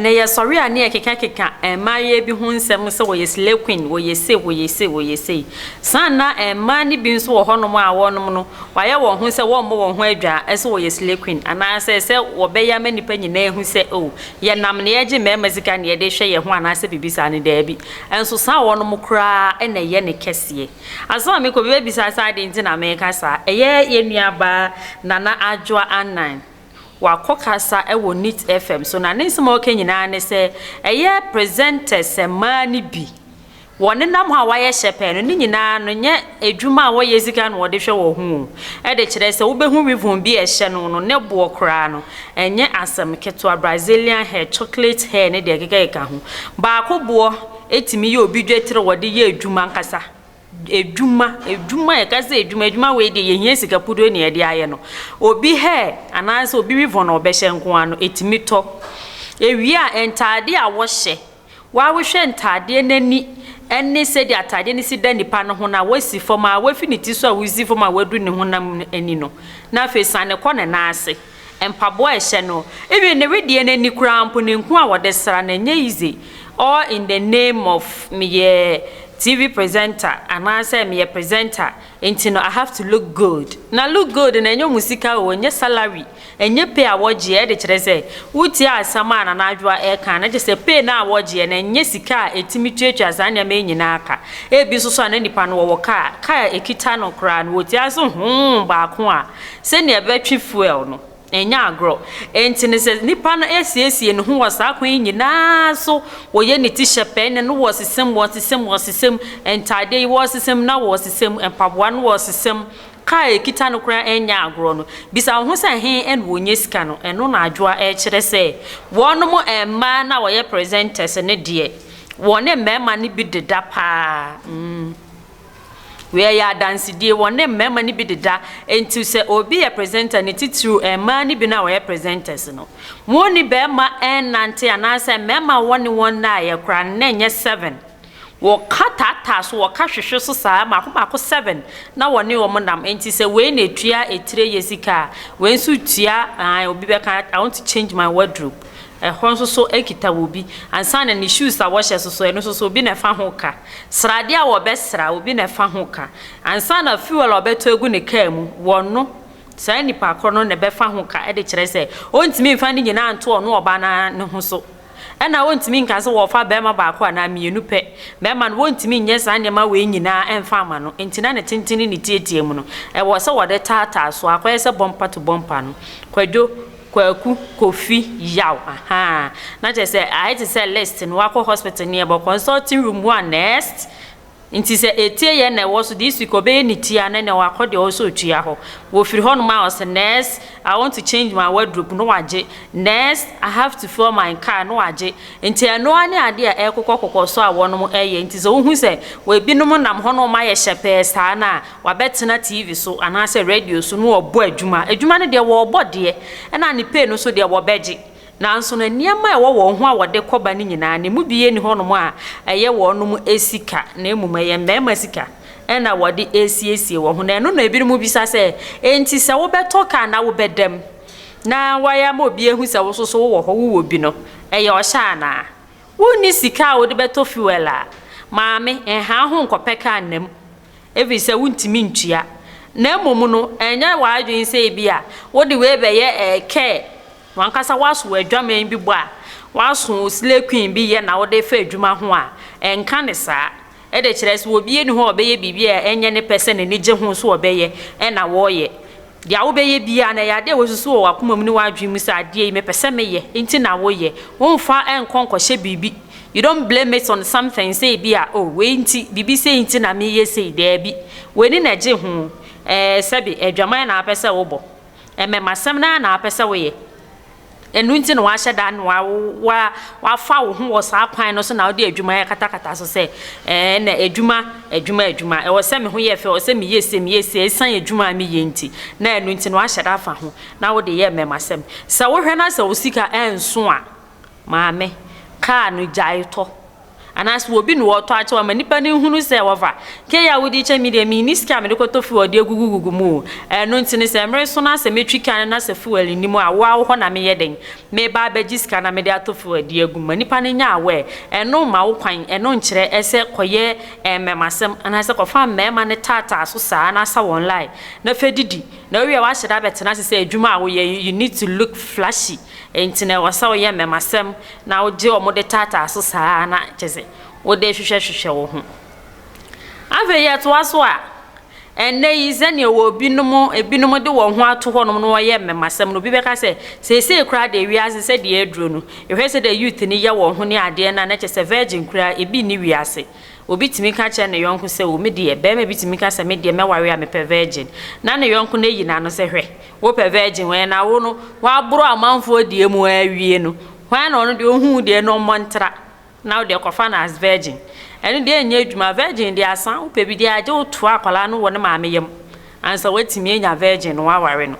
na yɛsɔre a ne yɛkekakeka eh, mmaayewa bi ho nsɛm sɛ wɔyɛ slay queen wɔyɛ sei wɔyɛ sei wɔyɛ sei saa na eh, mmaa no bi nso wɔ hɔnom a wɔnom no wɔayɛ wɔn ho sɛ wɔmmɔ wɔn ho adwa sɛ wɔyɛ slay queen anaasɛ sɛ wɔbɛyɛ ama nnipa nyinaa hu sɛ o oh, Yɛnam nea yɛgye mmarima sika na yɛde hwɛ yɛn ho anaasɛ biribi saa no? Daabi. Nso saa wɔnom koraa na ɛyɛ ne kɛseɛ. Ansa na merekɔ, obi bɛbisa sɛ adɛn nti na mereka saa? Ɛyɛ yɛn nuabaa Nana Adwoa Annan. Wakɔ kasa wɔ Nit FM so, na ne nsɛm a ɔka nyinaa ne sɛ ɛyɛ presenters mmaa no bi Wɔn nenam hɔ a wɔayɛ hyɛpɛɛ no, ne nyinaa no, nyɛ adwuma a wɔyɛ dzi kan na wɔde hwɛ wɔn ho o. Ɛde kyerɛ sɛ wobehu weavon bi a ɛhyɛ no no ne boɔ koraa no, ɛnyɛ asɛm ketewa, Brazilian hair, chocolate hair ne deɛ ɛkekakeka ho. Baako boɔ tumi yɛ obi dwetire a wɔde yɛ adwuma ankasa, adwuma, adwuma, yɛka sɛ adwuma, adwuma wei deɛ yɛhia sika puduo na yɛde ayɛ no. Obi hair anaasɛ obi weavon a ɔbɛhyɛ nko ara no, ɛtumi tɔ. Ɛwie a, ntaadeɛ a wɔhyɛ Wɔahwehwɛ ntaadeɛ no ani ne sɛdeɛ ataadeɛ no si da nipa no ho no a, woasi fam ara, woafi ne ti so a wosi fam a woadu ne honam no ani no, na afei siane kɔ ne nan ase, mpaboa a ɛhyɛ no, even ne wedeɛ no ani koraa mpo, ne nku a wɔde sra no, ɛnyɛ easy, all in the name of meyɛ TV presenter anaasɛ meyɛ presenter nti no I have to look good. Na look good no ɛnyɛ wɔn sika oo, ɛnyɛ salary Ɛnyɛ pay a wɔgyeɛ de kyerɛ sɛ wotiee asɛm a Nana Adwoa reka no, na kyerɛ sɛ pay no a wɔgyeɛ no ɛnyɛ sika a ɛtumi tuatua saa nneɛma yi nyinaa ka. Ebi nso so a na nipa no wɔwɔ kaa a kaa a ɛkita no koraa no wɔtua so hoo baako a sɛnea ɛbɛtwe fuel no. Ɛnyɛ agorɔ. Enti no sɛ nipa no asiesie ne ho wɔ saa kwan yi nyinaa so, wɔyɛ ne ti hyɛ pɛɛ, ne no wɔresesam, wɔresesam, wɔresesam ntaadeɛ yi, wɔresesam na wɔresesam mpaboa no, wɔresesam Ka a ɛkita no koraa ɛnyɛ agorɔ no, bisa wo ho sɛ he na ɔnya sika no? Ɛno na Adwoa ɛrekyerɛ sɛ wɔnom mmaa no a wɔyɛ presenters no deɛ wɔne mmarima no bi deda paa mm wei ɛyɛ adansedie wɔne mmarima no bi deda nti sɛ obi yɛ presenter no titiriw mmaa no bi no a wɔyɛ presenters no wɔnni barima nnante anaasɛ mmarima a wɔne wɔn nnaeɛ koraa no na ɛnyɛ seven. Wɔka taataa so, wɔka hwehwe so saa, mmaako mmaako seven na wɔne wɔn nam. Enti sɛ wei na etua etire yɛ sika a, wei nso tua, ae, obi bɛka, I want to change my wardrobe. Ɛhɔ nso so ekita wɔ obi. Ansa na ne shoes a wɔhyɛ so so, ɛno nso so obi na ɛfa ho ka. Sradeɛ a wɔbɛsra, obi na ɛfa ho ka. Ansa na fuel a ɔbɛtɔ agu ne kaa mu, wɔno, saa nipa korɔ no na ɛbɛfa ho ka de kyerɛ sɛ ɔntumi mfa ne nyinaa nto ɔno ɔbaa no ara ne ho so. Ɛnna wontumi nka sɛ wɔrefa barima baako anaa mmienu pɛ. Mmarima no, wontumi nyɛ saa nneɛma wei nyinaa mfa mma no. Enti na ne tenten ne ne tiatia mu no, ɛwɔ sɛ wɔde taataa so. Akɔyɛ sɛ bɔmpa to bɔmpa no. Kwadwo, Kwaku, Kofi, Yaw, ahaa. Na kyerɛ sɛ, ayɛ te sɛ list no, woakɔ hospital no, yɛbɔ consulting room mu a, next. Nti sɛ etie yɛ na ɛwɔ so de speaker ɔbɛyɛ ne ti a na nea wakɔ deɛ ɔwɔ sɛ ɔtua hɔ. Wɔfiri hɔ nom a ɔse nurse I want to change my wardrobe na wagye, nurse I have to fuel my car na wagye. Nti ɛno ara ne adeɛ a ɛrekokɔ kɔkɔ so a wɔnom ɛyɛ. Nti sɛ wohu sɛ ebinom nam hɔ na wɔn ayɛ hyɛpɛɛ saa no a wabɛtena TV so anaasɛ radio so na wɔrebɔ adwuma. Adwuma no deɛ wɔrebɔ deɛ ɛna ne pay no nso deɛ wɔbɛgye. Nanso na nneɛma a ɛwɔ wɔn ho a wɔde kɔ ba no nyinaa, ne mu biara nni hɔnom a ɛyɛ wɔnom sika, na mmom ɛyɛ mmarima sika na wɔde resiesie wɔn ho. Na ɛno na ebinom bisa sɛ, Enti sɛ wobɛtɔ ka anaa wobɛda mu na woayɛ ama obi ahu sɛ wo nso so wowɔ hɔ, wowɔ bi no, ɛyɛ ɔhyɛ anaa? Wunni sika a wode bɛtɔ fuel a, maame, nha wo ho nkɔpɛ ka nna mu, ɛfiri sɛ wontumi ntua. Na mmom no, ɛnyɛ w'adwene sɛ ebia wode wei bɛyɛ ɛɛ kɛɛ W'ankasa woaso w'adwaman bi bɔ a, woaso wo slay queen bi yɛ na wode fa adwuma ho a, ɛnka ne saa. Ɛde kyerɛ sɛ obi nni hɔ a ɔbɛyɛ biribi a ɛnyɛ ne pɛ sɛ n'ani gye ho nso ɔbɛyɛ na wɔreyɛ. Deɛ wobɛyɛ biara no, ɛyɛ adeɛ a woasusu wɔ w'akoma mu ne w'adwene mu sɛ adeɛ yi mepɛ sɛ meyɛ nti na woyɛ. Womfa nkɔ nkɔhyɛ biribi, you don't blame it on something sɛ ebi a oh wei nti, biribi sei nti na meyɛ sei, daabi. W'ani na ɛgye ho, ɛɛ sɛbe adwaman na wopɛ sɛ wobɔ. Mmɛmasɛm no ara na wapɛ sɛ woyɛ. Ɛno nti na wahyɛ da na wa, wa, wafa wo ho wɔ saa kwan no so na wode adwuma yɛ katakata so sɛ, ɛɛ, na adwuma, adwuma, adwuma. Ɛwɔ sɛ me ho yɛ fɛ, ɛwɔ sɛ meyɛ sei, meyɛ sei. Ɛsiane adwuma a meyɛ nti, na ɛno nti na wahyɛ da afa ho na wode yɛ mmɛmasɛm. Sɛ wohwɛ na sɛ wo sika ɛnso a, maame, kaa no gyae tɔ. Anaasɛ obi na ɔtɔ akyɛ wo ama nnipa no nhunu sɛ wɔfa. Key a wode kyɛ me deɛ, menni sika a mede kɔtɔ fuel de agugugugu mu o. Ɛno nti no, sɛ mmere so na sɛ metwi kan no na sɛ fuel nni mu a, wo ara wo hɔ na meyɛ dɛn? Mereba abɛgye sika na mede atɔ fuel de agu mu. Ma nnipa no nyɛ aware. Ɛno mma wo kwan. Ɛno nkyerɛ sɛ kɔyɛ mmɛmasɛm anaasɛ kɔfa mmarima no taataa so saa na sa wɔn line na fa didi. Na wowie a woahyɛ da abɛtena ase sɛ adwuma a woyɛ, you need to look flashy. Enti na ɛwɔ sɛ woyɛ mmɛmasɛm na wogye wɔn de taataa so saa ara na kyerɛ sɛ wode rehwehwɛhwehwɛ wo ho. Afei yɛtoa so a, ɛnnɛ yi sɛnea wɔ binom, ebinom de wɔn ho ato hɔnom na wɔyɛ mmɛmasɛm no, obi bɛka sɛ, seesei koraa deɛ wiase sɛdeɛ aduro no, yɛhwɛ sɛdeɛ youth no yɛ wɔn ho ne adeɛ no a, na kyerɛ sɛ virgin koraa ebi nni wiase. Obi tumi ka kyerɛ ne yɔnko sɛ, o, me deɛ, barima bi tumi ka sɛ, me deɛ, mɛware a mepɛ virgin. Na ne yɔnko no ayi n'ano sɛ, hwɛ, Wo pɛ virgin wɛn na wo no waboro amanfoɔ deɛ mu awie no hwan na ɔno deɛ ɔhu wo deɛ no mmɔ ntra na wo deɛ kɔfa no as virgin ɛno deɛ ɛnyɛ adwuma virgin deɛ asa wo pɛ bi deɛ agye wo toa akwadaa no wɔ ne maame yam ansa watumi anya virgin no waware no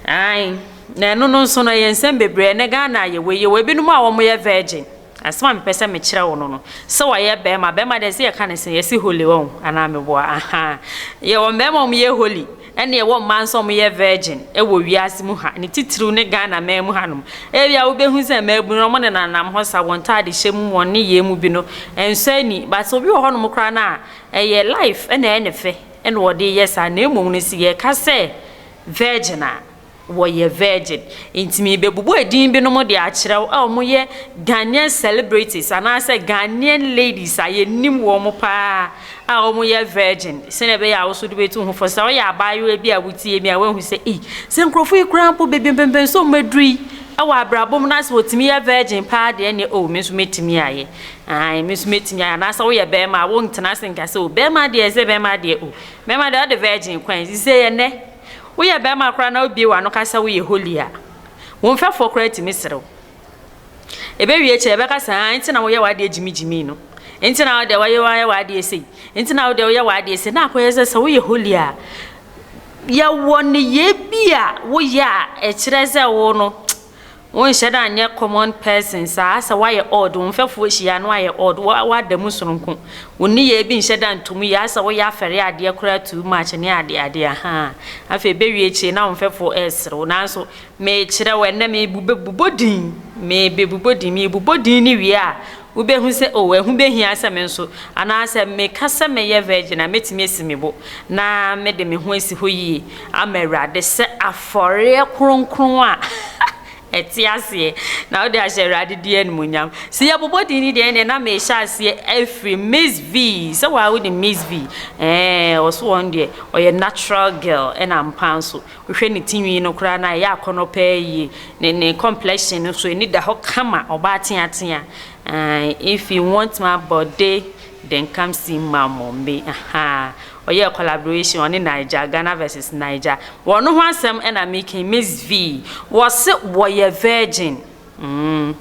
ae na ɛno no nso no ɛyɛ nsɛm bebree ɛnɛ Ghana a yɛwɔ yi yɛwɔ ebinom a wɔyɛ virgin. Asɛm a mepɛ sɛ mekyerɛ wo no no, sɛ wɔyɛ bɛrima, bɛrima deɛ ɛsɛ yɛka ne sɛ yɛsi holy wɔ ho anaa meboa ahaa. Yɛwɔ mmarima a wɔyɛ holy ɛne yɛwɔ mmaa nso a wɔyɛ virgin wɔ wiase mu ha, ne titiriw ne Ghana man mu hanom. Ebia wobɛhu sɛ mmaabunu no wɔnenanam hɔ sa, wɔn ntaadehyɛ mu, wɔn nneyɛɛ mu bi no, ɛnsɔ ani. But obi wɔ hɔnom koraa no a, ɛyɛ life na ɛyɛ ne fɛ na ɔde reyɛ saa na mmom no sɛ yɛka sɛ virgin a, Wɔyɛ virgin. Nti merebɛbobɔ edin binom de akyerɛ wo a wɔyɛ Ghanaian celebrities anaasɛ Ghanaian ladies a yɛnim wɔn paa a wɔyɛ virgin sɛdeɛ ɛbɛyɛ a wo nso wode bɛtu wo ho fo. Sɛ woyɛ abaayewa bi a wotie mi a woahu sɛ ei, sɛ nkurɔfoɔ yi koraa mpo baabi mpɛmpɛnsoɔ wɔn aduru yi wɔ abrabɔ mu na sɛ wɔtumi yɛ virgin paa deɛ ɛnneɛ oh me nso mɛtumi ayɛ. Aane, me nso mɛtumi ayɛ. Anaasɛ woyɛ barima a wontena ase nka sɛ oh bɛrima deɛ sɛ bɛrima deɛ oh bɛrima deɛ ɔde virgin kwan. Seisei ɛnnɛ Woyɛ barima koraa na wubue w'ano ka sɛ woyɛ holy a, wo mfɛfoɔ koraa tumi sere wo. Ɛbɛwie kyɛɛ bɛka sɛ, Haa, enti na woyɛ w'adeɛ gyimigyimii no? Enti na wo deɛ woayɛ woayɛ w'adeɛ sei? Enti na wo deɛ woyɛ w'adeɛ sei? Na akɔyɛ sɛ sɛ woyɛ holy a, yɛwɔ nneyɛɛ bi a woyɛ a ɛkyerɛ sɛ wo no, Wonhyɛ da nyɛ common person saa, sɛ woayɛ odd, wo mfɛfoɔ hyia na woayɛ odd, wo woada mu sononko, wo nneyɛɛ bi nhyɛ da nto mu yie, ayɛ sɛ woyɛ afɛreɛ adeɛ koraa too much ne adeɛ adeɛ ahaa, afei ɛbɛwie akyire na wo mfɛfoɔ resere wo, nanso merekyerɛ wo ɛnnɛ merebobɔ din, merebobɔ din, merebobɔ din no wie a Wubehu sɛ, 'O, ɛho behia sɛ me nso, anaa sɛ meka sɛ mɛyɛ virgin a, metumi asi me bo na mede me ho asi hɔ yiye ama Awurade sɛ afɔreɛ kronkron a ɛte aseɛ, na wode ahyɛ Awurade din animuonyam. Sɛ yɛbobɔ din no deɛ, ɛnneɛ na merehyɛ aseɛ afiri Miss Vee. Sɛ wo ara wonim Miss Vee? Ɛɛ, wɔse wɔn deɛ, ɔyɛ natural girl, ɛna ampa nso, Wohwɛ ne ti nwi no koraa no a, ɛyɛ akɔnnɔ paa yie. Ne ne complexion no nso, ani da hɔ kama, ɔbaa teatea. Ae, if you want my body, then come see ma mommy. Ahaa. Ɔyɛɛ collaboration, ɔne Naija, Ghana vs Naija. Wɔn ho asɛm na mereka yi, Miss V. Wɔse wɔyɛ virgin. Mm.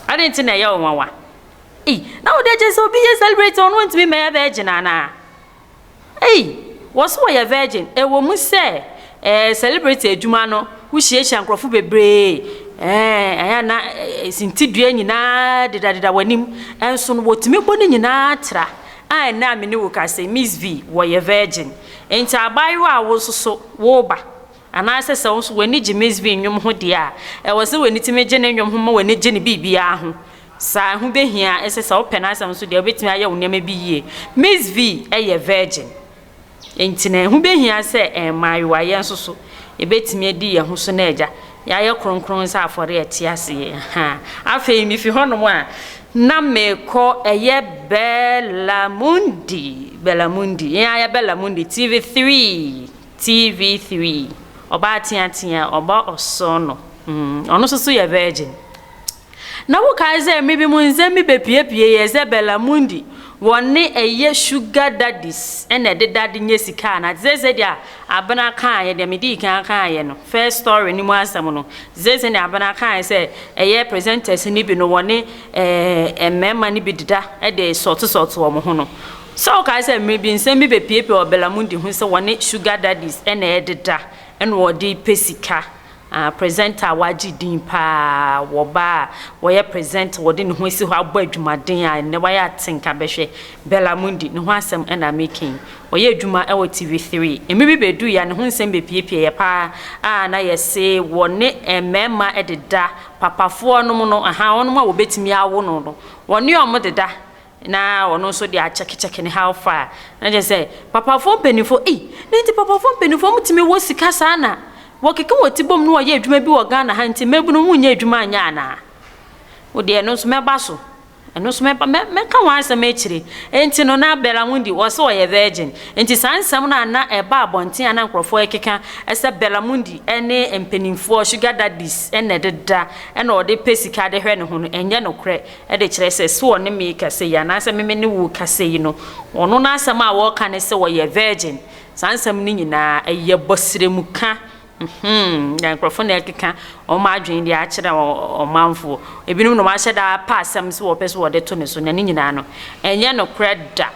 Adɛn nti na ɛyɛ wo nwanwa? Ei, na wode akyerɛ sɛ obi yɛ celebrity a, ɔno ɔntumi mmɛyɛ virgin anaa? Ei! Wɔse wɔyɛ virgin. Ɛwɔ mu sɛ eh, celebrity adwuma no, wohyiahyia nkurɔfo bebree, eh, ɛyɛ a na sintidua nyinaa dedadeda w'anim, nso no wɔtumi bɔ ne nyinaa tra. A ɛnnɛ a me ne wo ka sɛ, Miss V, wɔyɛ virgin. Enti abaayewa a wo nso so woreba, anaasɛ sɛ wo nso w'ani gye Miss V nnwom ho deɛ a, ɛwɔ sɛ w'ani tumi gye ne nnwom ho ma w'ani gye ne biribiara ho. Saa, ɛho behia sɛ sɛ wopɛ n'asɛm nso deɛ, wobetumi ayɛ wo nneɛma bi yie. Miss V yɛ virgin, enti na ɛho behia sɛ mmaayewa yɛn nso so yebetumi adi yɛn ho so na agya yɛayɛ kronkron sɛ afɔre a ɛte ase. Ɛhã. Afei mifi hɔnom a, na mekɔ ɛyɛ Bellamundi, Bellamundi, yɛn ara yɛ Bellamundi, TV Three, TV Three, ɔbaa teatea, ɔbɔ ɔsɔɔnɔ, mm, ɔno nso so yɛ virgin. Na wokae dɛ emi bi mo ndze me bepuepue yɛ dze Bella Mundi wɔ ne ɛyɛ Sugar Daddies na ɛdeda de nya sika ana? Dze dzede a Abena kaaeɛ deɛ medii kan akaaeɛ no, first story no mu asɛm no, dze dzede a Abena kaaeɛ sɛ ɛyɛ presenters no bi no wɔ ne eh, mmarima no bi deda de sɔɔto sɔɔto wɔn ho no. Sɛ wokae sɛ emi bi nsɛm bi bepuepue wɔ Bella Mundi ho sɛ wɔ ne Sugar Daddies na ɛdeda na ɔde pɛ sika Ah, presenter a wagye din paa wɔ baa a wɔyɛ presenter, wɔde ne ho asi hɔ abɔ adwumaden a nnɛ wayɛ atenka bɛhwɛ, Bella Mundi, ne ho asɛm na mereka yi. Ɔyɛ adwuma wɔ TV Three. Mmere bi beduui a ne ho nsɛm bepiapiaeɛ paa a na yɛse wɔne mmarima deda, papafoɔnom no, ahaa, wɔnom a wɔbetumi awo no no, wɔne wɔn deda. Na ɔno nso de akyɛkekyɛke ne how far. Na kyerɛ sɛ papafoɔ mpaninfoɔ ei na nti papafoɔ mpaninfoɔ mo tumi wɔ sika saa na wɔ keke wɔ ti bom na wɔ yɛ adwuma bi wɔ Ghana ha nti mmabunu mo nyɛ adwuma nyɛ anaa wo deɛ ɛno nso mɛ ba so ɛno nso mɛ ba mɛ ka ho asɛm akyire nti no na Bella Mundi wɔ sɛ ɔyɛ virgin nti saa nsɛm no ana ɛba abɔnten ana nkorɔfoɔ ɛkeka ɛsɛ Bella Mundi ɛne mpaninfoɔ sugar daddies ɛna ɛdeda ɛna ɔde pɛ sika de hwɛ ne ho no ɛnyɛ nokorɛ de kyerɛ sɛ se ɔne me rekasa yi, anaasɛ me me ne wo rekasa yi no, ɔno n'asɛm a ɔreka ne sɛ ɔyɛ virgin. Saa nsɛm no nyinaa, ɛyɛ bɔsrɛmuka. Mhmm, na nkurɔfo na ɛrekeka wɔn adwene de akyerɛ ɔmanfoɔ. Ebinom na wɔahyɛ da apɛ asɛm sɛ wɔpɛ sɛ wɔde to ne so, na ne nyinaa no, ɛnyɛ nokorɛ da.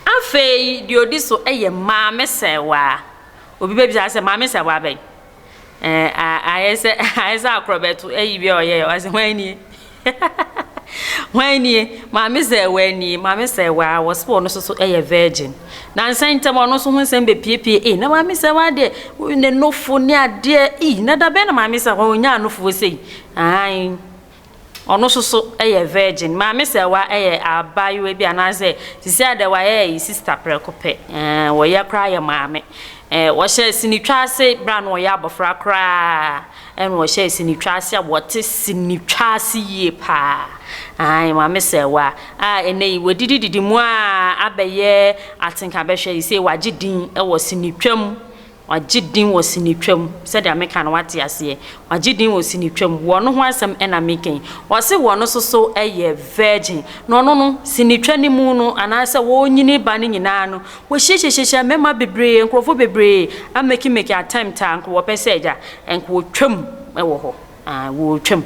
Afei, deɛ ɔdi so yɛ Maame Sɛwaa. Obi bɛbisa sɛ, Maame Sɛwaa bɛn? Eh, ayɛ sɛ ayɛ sɛ akorɔbɛto ayi bi a ɔyɛɛ ɔse hwan nie hwan nie maame sɛ waa nie maame sɛ waa wɔse wɔn nso so yɛ virgin na nsɛn ntɛm ɔno nso ho nsɛm bɛpiepie ee na maame sɛ waa deɛ ne nofo ne adeɛ ee na da bɛn na maame sɛ ɔnyaa nofo sei ahan Ɔno so so yɛ virgin. Maame Sɛwa yɛ abaayewa bi anaasɛ sisi a dɛ wayɛ yi sister prɛko pɛ eh wɔyɛ koraa yɛ maame eh wɔhyɛ sinitwa ase berɛ a na ɔyɛ abɔfra koraa ɛna ɔhyɛ sinitwa ase a wɔte sinitwa ase yie paa ae maame Sɛwa a ɛnɛ yi wɔdidi didi mu a abɛyɛ atenka bɛhwɛ yi sei wagye din wɔ sinitwa mu Wagye din wɔ sinitwa mu. Sɛdeɛ meka no woate aseɛ. Wagye din wɔ sinitwa mu. Wɔ no ho asɛm na mereka yi. Wɔse wɔ no soso yɛ virgin. Na ɔno no, sinitwa no mu no, anaasɛ wɔnyini ba no nyinaa no, wɔhyiahyia mmarima bebree, nkurɔfoɔ bebree a make make attempt a nka wɔpɛ sɛ agya, nka wɔtwam wɔ hɔ. Aah wɔtwam.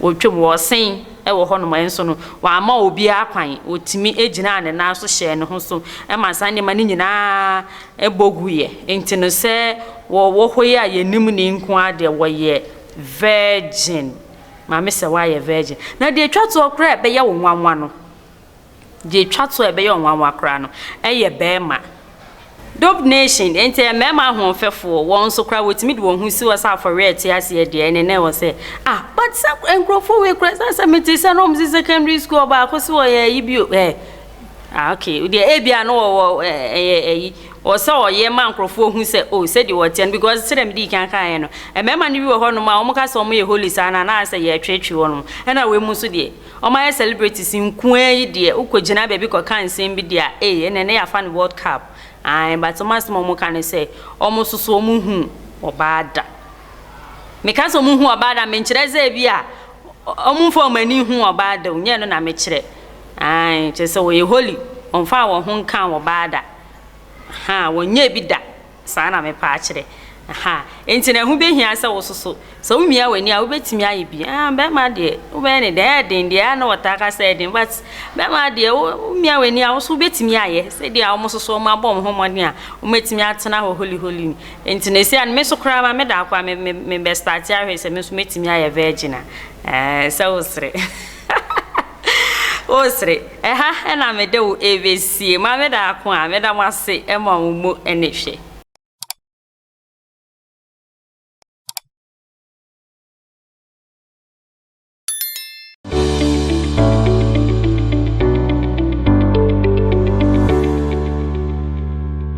Wɔtwam, wɔsen wɔ hɔnom, nso no, wɔamma obiara kwan. Otumi gyinaa ne nan so hyɛɛ ne ho so ma saa nneɛma no nyinaa bɔ guiɛ. Enti no, sɛ wɔwɔ hɔ yi a yɛnim no yi nko ara deɛ, wɔyɛ virgin. Maame Sewaa yɛ virgin. Na deɛ ɛtwa toɔ koraa a ɛbɛyɛ wo nwanwa no, Deɛ ɛtwa to a ɛbɛyɛ wo nwanwa koraa no, ɛyɛ bɛɛma. Dope Nation, Enti ɛyɛ mɛɛma ahoɔfɛfoɔ, wɔn nso koraa wɔtumi de wɔn ho si hɔ sɛ afɔreɛ a ɛte aseɛ deɛ, ɛne na ɛwɔ sɛ, ah, but sa nkurɔfoɔ wei koraa ɛsɛ sɛ mete sɛ na wɔn se secondary school ɔbaako se wɔyɛ ayi bio, eh, ah, okay, deɛ ebia no wɔ wɔ ɛyɛ ayi, wɔ sɛ ɔyɛ ma nkurɔfoɔ hu sɛ, oh, sɛdeɛ wɔteɛ no, because sɛdeɛ mede kan kaeɛ no, mɛɛma no bi wɔ hɔ nom a wɔn ka sɛ wɔn yɛ holy saa no anaasɛ yɛtwetwe wɔn, ɛna wei mu nso deɛ, Wɔayɛ celebrities nkoaa yi deɛ wokɔ gyina baabi kɔ ka nsɛm bi deɛ a ei ɛnɛ na yɛafa no world cup ae but wɔn asɛm a wɔn ka ne sɛ wɔn nso so wɔn nhu ɔbaa da me ka sɛ wɔn nhu ɔbaa da me nkyerɛ sɛ ebi a wɔn nfa wɔn ani nhu ɔbaa da o nyɛ no na me kyerɛ ae kyerɛ sɛ wɔyɛ holy wɔn nfa wɔn ho nka ɔbaa da ha wɔn nyɛ bi da. Saa na mepɛ akyerɛ. Aha. Enti na ɛho behia sɛ wososo. Sɛ wumia w'ani a, wubetumi ayɛ bi. Ah, bɛrima deɛ, wobɛyɛ no dɛn? Ɛyɛ den deɛ, a na wɔtaa ka sɛ ɛyɛ den. But bɛrima deɛ, wo, wumia w'ani a, wo nso wubetumi ayɛ. Sɛ deɛ a wɔsoso, wɔabɔ wɔn ho mmɔden a, wɔatumi atena hɔ holiholy ni. Enti no esi a, me nso koraa ma meda hɔ koraa, me, me, mebɛstarte ahwɛ sɛ me nso metumi ayɛ virgin a. Ɛɛ, sɛ wosere. Wosere, ɛha na mede wo rebesie. Maame Daako a, meda mo ase ma wo mu anihwɛ.